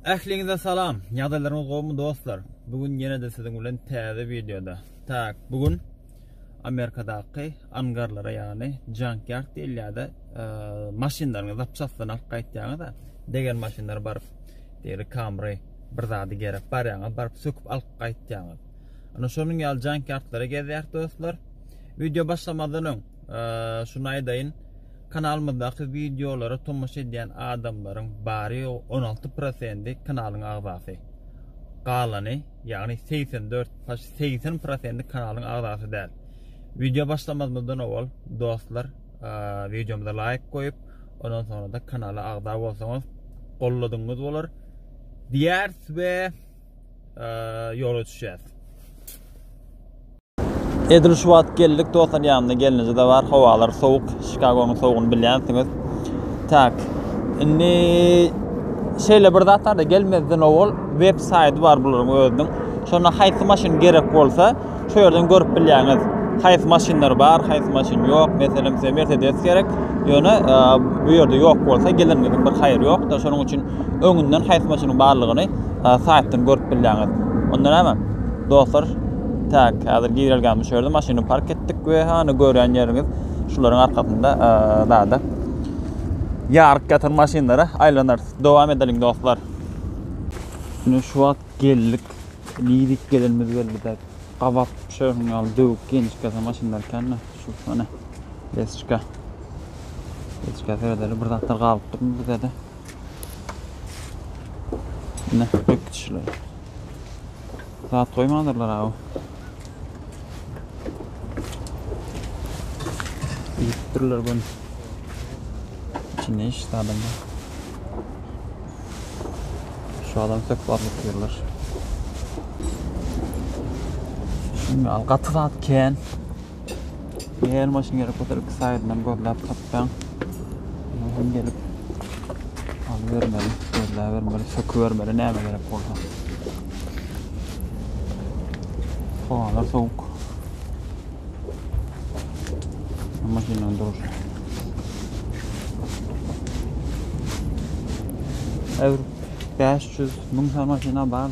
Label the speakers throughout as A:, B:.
A: Ähliňize salam. Ýagdaýlaryňyz gowumy dostlar? Bu gün ýene-de siziň bilen täze wideoda. Tak, bu gün Amerikadaky angarlara ýagny junkyard diýilýär-de, maşynlaryňyzy zapçastdan alyp gaýtýaňyz-a, degen maşynlar baryp, diýeli Camry bir zady gerek barýaňyz, baryp söküp alyp gaýtýaňyz. Ana şonuň ýaly junkyardlary gezýäris dostlar. Wideo başlamazdan öň Şuny aýdaýyn, kanalymyzdaky wideolara tomaşa edýän adamlaryň bary ýogy on alty prosendi kanalyň agzasy. Galany, ýagny segsen dört, segsen prosendi kanalyň agzasy däl. Wideo başlamazymyzdan owal dostlar wideomyza laýk goýup, ondan soňra-da kanala agza bolsaňyz golladygyňyz bolar. Diýäris we ýola düşýäris. Edil şu wagt geldik dostlar ýanymda gelnije de bar howalar sowuk Şikagonyň sowugyny bilýänsiňiz. Tak. Indi şeýle bir zat barda gelmezden owal web saýty bar bularyň özüniň. Şonda haýsy maşyn gerek bolsa şu ýerden görüp bilýäňiz. Haýsy maşynlar bar, haýsy maşyn ýok. Meselem size Mercedes gerek. Ýöne e, bu ýerde ýok bolsa geleniňiziň bir haýry ýokda. Şonuň üçin öňünden haýsy maşynyň barlygyny e, saýtdan görüp bilýäňiz. Ondan näme? Dostlar, Tak, häzir girelgämi düşerdim, maşyny park etdik we hany görýän ýeriňiz şularyň arkasynda zada ýaryk ýatan maşynlara aýlanarys. Dowam edeliň dostlar. Ine şu wagt geldik. Nidik gelenimiz geldi dek. Gabat şerhun ýaly döwük genişkese maşynlar ekende şu hany Lesçka. Lesçka seredeli bir zatlar galyp durmy bu zede. Ine, ökçüler. Zat goýmandyrlar aw. Ýitipdirler gün. Çinne iş sadamda. Şu adam söp barlyk diýerler. Şimdi al gaty zat kän. Gel maşyn gerek bolsa iki saýdyndan gözläp tapýaň. Muňa hem gelip alybermeli, gözläbermeli, sökübermeli näme gerek bolsa. Howalar sowuk. Maşynyň duruşy. Äwr 500 müň sany maşyna bar.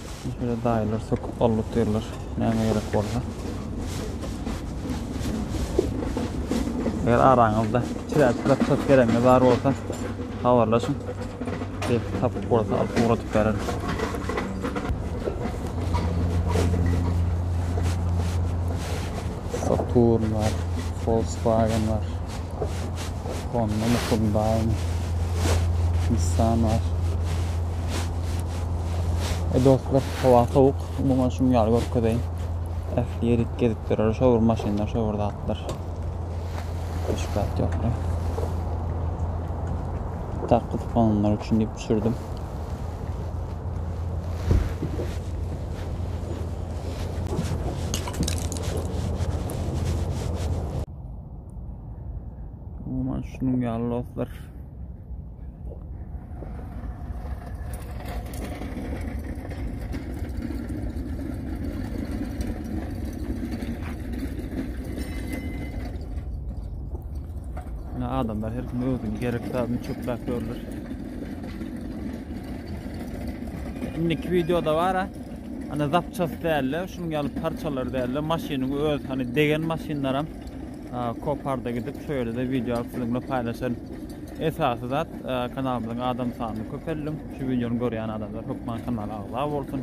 A: Şeýle daýylar söküp alyp otyrlar. Näme gerek bolsa. Eger araňyzda çiräp çiräp çat geregiňiz bar bolsa, habarlaşyň. Belki tapyp bolsa alyp ugradyp bereris. Saturn var, Volkswagen var. Honda Mukundaýyň Nissan bar. E dostlar, howa sowuk. Umuman şuň ýaly görkezeýin. Ähli ýerik gezip durar. Şo bir maşynlar, şo bir zatlar. Şübhat ýok. Tak gyzyklananlar üçin diýip düşürdim. Umuman şunun ýaly dostlar. Ne adamlar her kim özüni gerek zadyny çöplap görler. Şimdiki videoda var ha. Hani zapças dälle, şunuň ýaly parçalar dälle, maşynyň öz hani degen maşynlaram koparda gidip şu ýerde wideo alyp siziň bilen paýlaşan. Esasy zat kanalymyzyň adam sanyny köpeldiň. Şu wideony görýän adamlar hökman kanala agza bolsun.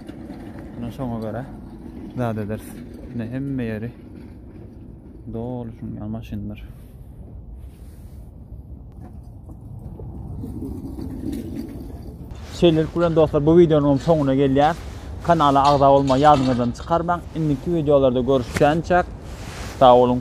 A: Ana şoňa görä zat ederis. Ne hemme ýeri doly şunuň ýaly maşynlar. Şeýlelik bilen dostlar bu wideonyň soňuna gelýär. Kanala agza bolmagy ýadyňyzdan çykarmaň. Indiki wideolarda görüşýänçäk. Sag boluň.